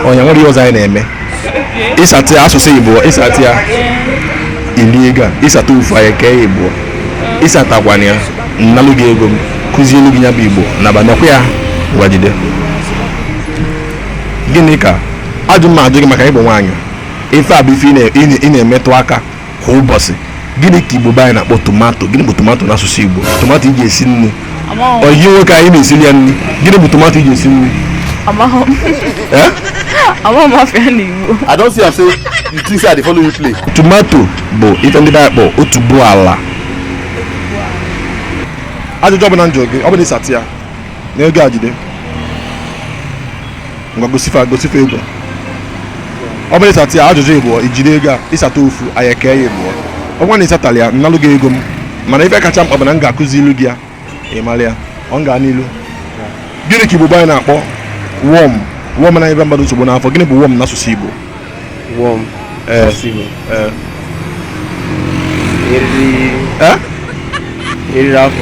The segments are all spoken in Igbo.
onye nwere ihe ọzọ anyị na-eme ị sata asụsụ igbo ị sata ya i lie ego a ị sata ofu anyị kee ya ịbụọ ị satakwana ya m nalụ gị ego m kụzielu gị ya bụ igbo na banakwa ya gwajide gịnị ka ajụ m ajụ gị maka ị bụ nwaanyị ife a bụ ife ị na-emetụ aka kwa ụbọchị gịnị ka igbo be anyị na-akpọ tomato gịnị bụ tomato n'asụsụ igbo tomato i ji esi nri ọyị gị nwoke anyị na-esiri ya nri gịnị bụ tomato i ji esi nri eh? I don see am say you think say I dey follow you play. Tomato bụ ife ndị be anyị kpọ otubo ala. Ajụjụ ọbụla m jụọ gị, ọ bụ na ị sata ya, na ego a jide. ngwa gosi fa gosi fa ego ọ bụrụ ị sata ya ajụjụ ịbụọ i jide ego a ị sata ofu anyị ekee ya ịbụọ ọ bụrụ na ị satarọ ya m nalụ gị ego m mana ife kacha mkpa bụ na m ga-akụzilu gị ya ị mara ya ọ ga n'ilu gịnị ka igbo anyị na-akpọ worm worm na-enyebe mmadụ nsogbu n'afọ gịnị bụ worm n'asụsụ igbo worm ee ee eriri afọ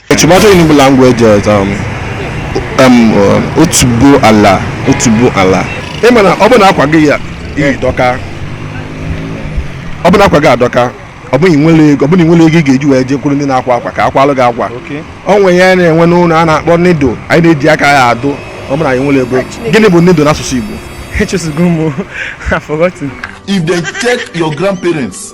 Tomato in Igbo language is um, um, uh, otubo ala otubo ala ị ma na ọ bụ na akwa gị a i yi dọkaa ọ bụ na akwa gị adọka ọ bụ na i nwerọ ego ọ bụ na i nwerọ ego ị ga-eji wee jekwuru ndị na-akwa akwa ka a kwalụ gị akwa o nwe ihe a na-enwe n'ụlọ a na-akpọ needle anyị na-eji aka ya adụ ọ bụrụ anyị nwerọ ego gịnị bụ needle n'asụsụ Igbo If they check your grandparents,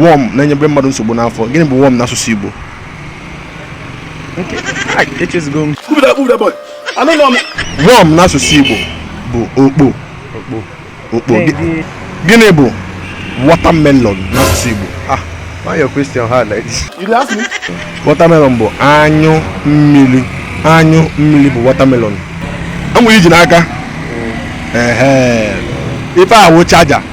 worm na-enyebe mmadụ nsogbu n'afọ gịnị bụ worm n'asụsụ Igbo worm n'asụsụ Igbo bụ okpo okpo gịnị bụ watermelon n'asụsụ Igbo ah, watermelon bụ anyụ mmiri anyụ mmiri bụ watermelon enwere iji n'aka mm. ife a wụ charger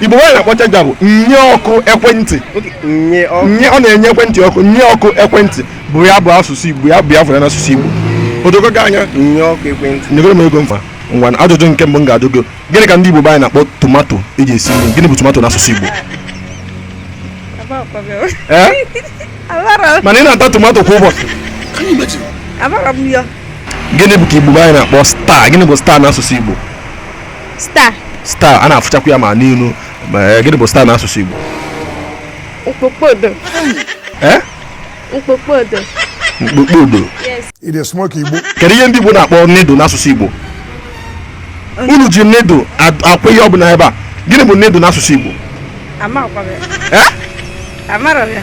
igbo be anyị na-akpọ charger bụ nye ọkụ ekwentị nye ọ na-enye ekwentị ọkụ nye ọkụ ekwentị bụ ya bụ asụsụ igbo ya bụ ya fụrụ n'asụsụ igbo o dogo gị anya nye ọkụ ekwentị nyegoro m ego mfa ngwa na ajụjụ nke mbụ m ga-ajụ gị gịnị ka ndị igbo anyị na-akpọ tomato e ji esi nri gịnị bụ tomato n'asụsụ igbo eh? mana ị na-ata tomato kwa ụbọchị gịnị bụ ka igbo anyị na-akpọ star gịnị bụ star n'asụsụ igbo star star a na-afụchakwa ya ma n'elu eh, gịnị bụ star n'asụsụ Igbo kpakpando eh? kpakpando kpakpando kedu ihe ndị Igbo na-akpọ needle n'asụsụ Igbo unu ji needle akwa ihe ọ bụla ebe a gịnị bụ needle n'asụsụ Igbo Amarọ m ya.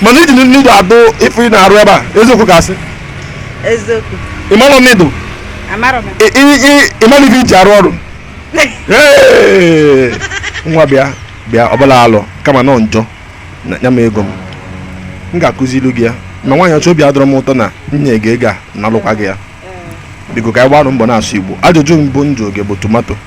mana i ji needle adụ ife ị na-arụ ebe a eziokwu ka asị Eziokwu. ịmarọ needle Amarọ m ya. ị- ị- ị- ịmarọ ife i ji arụ ọrụ Hey! nwa bịa bịa ọ bụrọ alụ kama na ọ njọ na nye m ego m m ga-akụzilu gị ya ma nwaanyị ọcha obi adịrọ m ụtọ na e nye gị ego a nalụkwa gị ya biko ka anyị gbarụ mbọ na-asụ igbo ajụjụ mbụ m jụrụ gị bụ tomato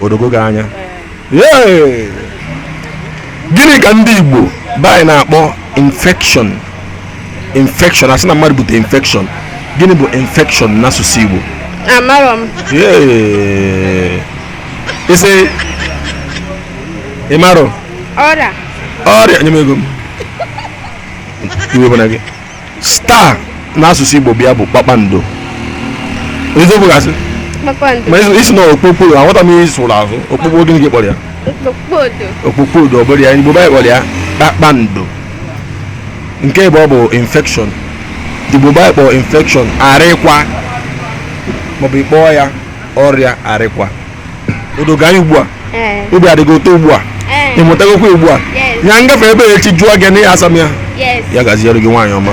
o dogo gị anya gịnị ka ndị Igbo be anyị na-akpọ infection infection a sị na mmadụ bute infection gịnị bụ infection n'asụsụ Igbo amarọ m ị sị ịmarọ ọrịa ọrịa nye m ego m iwe ewena gị star n'asụsụ igbo bịa bụ kpakpando eziokwu ka asị kpakpando ma ezi- ị sị na okpokpo aghọta m ihe ị sụlụ asụ okpokpo gịnị ka ị kpọrọ ya okpokpodo okpokpo odo ọ bụrọ ya igbo be anyị kpọrọ ya kpakpando nke ịbụọ bụ infection igbo be anyị kpọrọ infection arịkwa maọbụ ị kpọọ ya ọrịa arịkwa o dogo gị anya ugbu a obi adị gị ụtọ ugbu a ị mụtagokwa ugbu a ya m gafe ebe a echi jụọ gị na ya asa m ya ya gaziere gị nwaanyị ọma